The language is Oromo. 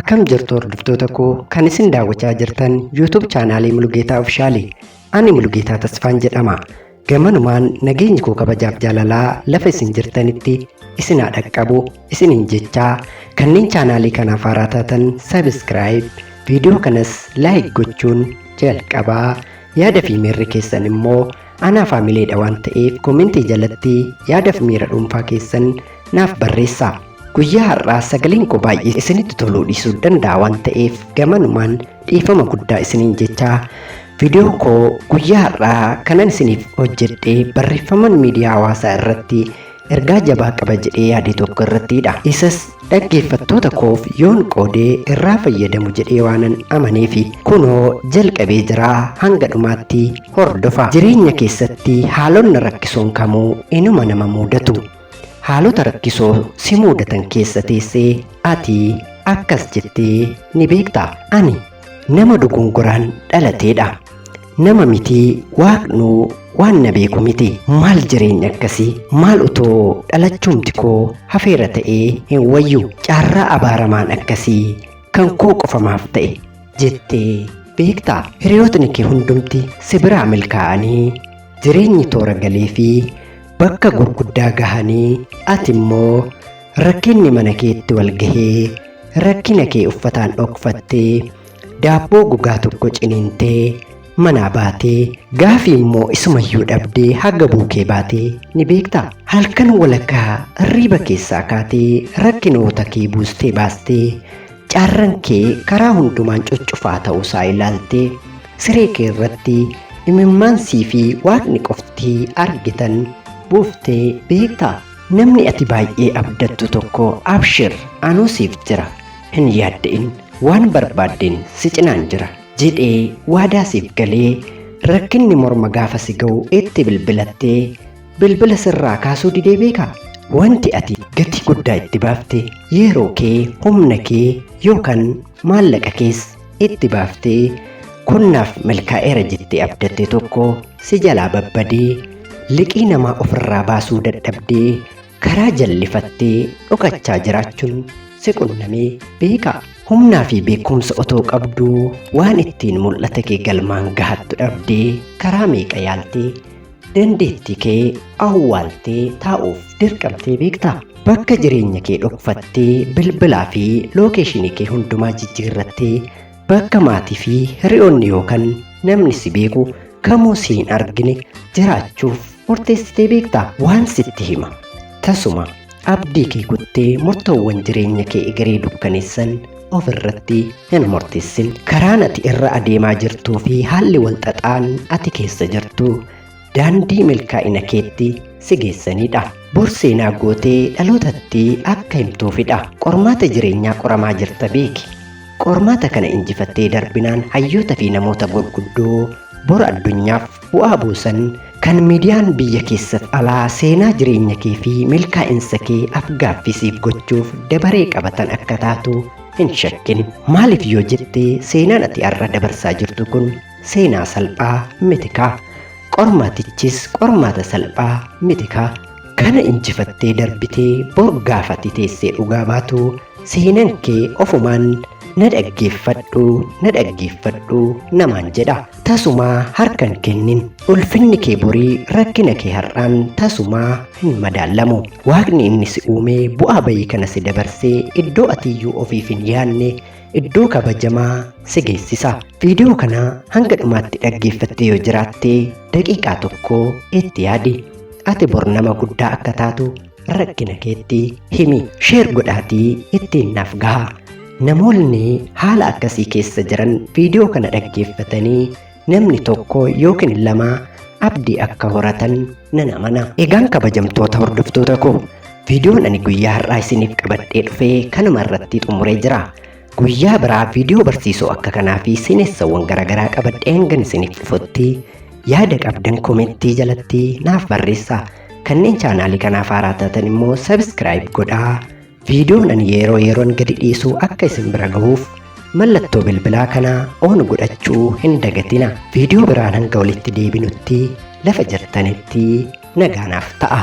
Akkam jirtu hordoftoota koo kan isin daawwachaa jirtan YouTube chaanaalii Mulugeetaa Ofishaali. Ani Mulugeetaa Tasfaan jedhama. Gamanumaan nageenyi koo kabajaaf jaalalaa lafa isin jirtanitti isin haa dhaqqabu isiniin jechaa kanneen chaanaalii kanaaf haaraa taatan sabiskiraayib viidiyoo kanas laayik gochuun jalqabaa yaada fi miirri keessan immoo Anaa faamileedha waan ta'eef koomentii jalatti yaadaf miira dhuunfaa keessan naaf barreessaa. Guyyaa har'aa sagaleen koo baay'ee isinitti toluu dhiisuu danda'a waan ta'eef gamanumaan dhiifama guddaa isiniin jechaa viidiyoo koo guyyaa har'aa kanan isiniif hojjedhe barreeffaman miidiyaa hawaasaa irratti ergaa jabaa qaba jedhee yaade tokko irrattiidha. Isas dhaggeeffattoota koof yoon qoodee irraa fayyadamu jedhee waanan amaneefi. Kunoo jalqabee jira hanga dhumaatti hordofa. Jireenya keessatti haalonna rakkisoon kamuu inuma nama muudatu. Haalota rakkisoo si muudatan keessa teessee ati akkas jettee ni beekta. Ani nama dogongoraan dhalateedha. Nama miti waaqnuu waan na beeku miti maal jireenya akkasii maal utoo dhalachuumti koo hafeera ta'ee hin wayyu caarraa abaaramaan akkasii kan koo qofamaaf ta'e jettee beektaa hiriyootni kee hundumti si biraa milkaa'anii jireenyi toora galee fi bakka gurguddaa gahanii ati immoo rakkinni mana keetti wal gahee rakkina kee uffataan dhokfattee Daabboo gogaa tokko ciniintee manaa baatee gaafii immoo isumayyuu dhabdee haga buukee baatee ni beektaa? Halkan walakkaa riiba keessaa kaatee rakkinoota kee buustee baastee carran kee karaa hundumaan cuccufaa ta'uusaa ilaaltee siree kee irratti imimmaan sii fi waaqni qofti argitan buuftee beektaa? Namni ati baay'ee abdattu tokko abshir anuu siif jira. hin yaadda'in waan barbaaddeen si cinaan jira jedhee waadaa siif galee rakkinni morma gaafa si ga'u itti bilbilattee bilbila sirraa kaasuu didee beekaa wanti ati gatii guddaa itti baafte yeroo kee humna kee yookaan maallaqa kees itti baaftee kunnaaf milkaa'eera jettee abdatte tokko si jalaa babbadee liqii namaa ofirraa baasuu dadhabdee karaa jallifattee dhokachaa jiraachuun si qunnamee beekaa? Humnaa fi beekumsa otoo qabduu waan ittiin mul'ata kee galmaan gahattu dhabdee karaa meeqa yaaltee dandeettii kee awwaaltee taa'uuf dirqamtee beektaa? Bakka jireenya kee dhokfattee bilbilaa fi lookeeshinii kee hundumaa jijjiirrattee Bakka maatii fi hiriyoonni yookaan namni si beeku kamuu si hin argine jiraachuuf murteessitee beekta waan sitti hima. Tasuma abdii kee kuttee murtoowwan jireenya kee egeree dukkaneessan of irratti hin murteessin. Karaan ati irra adeemaa jirtuu fi haalli walxaxaan ati keessa jirtu daandii milkaa'ina keetti si geessanidha. Bor seenaa gootee dhalootatti akka himtuufidha. Qormaata jireenyaa qoramaa jirta beeki. Qormaata kana injifattee darbinaan hayyoota fi namoota gurguddoo bor addunyaaf bu'aa buusan kan miidiyaan biyya keessaf alaa seenaa jireenya kee fi milkaa'insa kee afgaaffii siif gochuuf dabaree qabatan akka taatu hin shakkin. Maaliif yoo jette seenaan ati har'a dabarsaa jirtu kun seenaa salphaa mitikaa qormaatichis qormaata salphaa mitikaa kana injifattee darbitee bor gaafatti teessee dhugaa baatu seenan kee ofumaan na dhaggeeffadhu na dhaggeeffadhu namaan jedha tasumaa harkan kennin ulfinni kee borii rakkina kee har'aan tasumaa hin madaallamu waaqni inni si uumee bu'aa bayii kana si dabarsee iddoo atiyyuu ofiif hin yaanne iddoo kabajamaa si geessisa. Viidiyoo kana hanga dhumaatti dhaggeeffattee yoo jiraatte daqiiqaa tokko itti yaadi. Ati bor nama guddaa akka taatu rakkina keetti himi. Sheer godhaatii ittiin naaf gaha. Namoonni haala akkasii keessa jiran viidiyoo kana dhaggeeffatanii namni tokko yookiin lama abdii akka horatan nan amana. Egaan kabajamtoota hordoftoota koo viidiyoon ani guyyaa har'aa isiniif qabadhee dhufee kanuma irratti xumuree jira. Guyyaa biraa viidiyoo barsiisoo akka kanaa fi seenessawwan garaagaraa qabadhee hangan isiniif dhufutti yaada qabdan komentii jalatti naaf barreessaa. Kanneen chaanaalii kanaaf haaraa taatan immoo sabiskiraayib godhaa. Viidiyoon ani yeroo yeroon gadi dhiisu akka isin bira gahuuf mallattoo bilbilaa kana on godhachuu hin dagatina. Viidiyoo biraan hanga walitti deebinutti lafa jirtanitti nagaanaaf ta'a.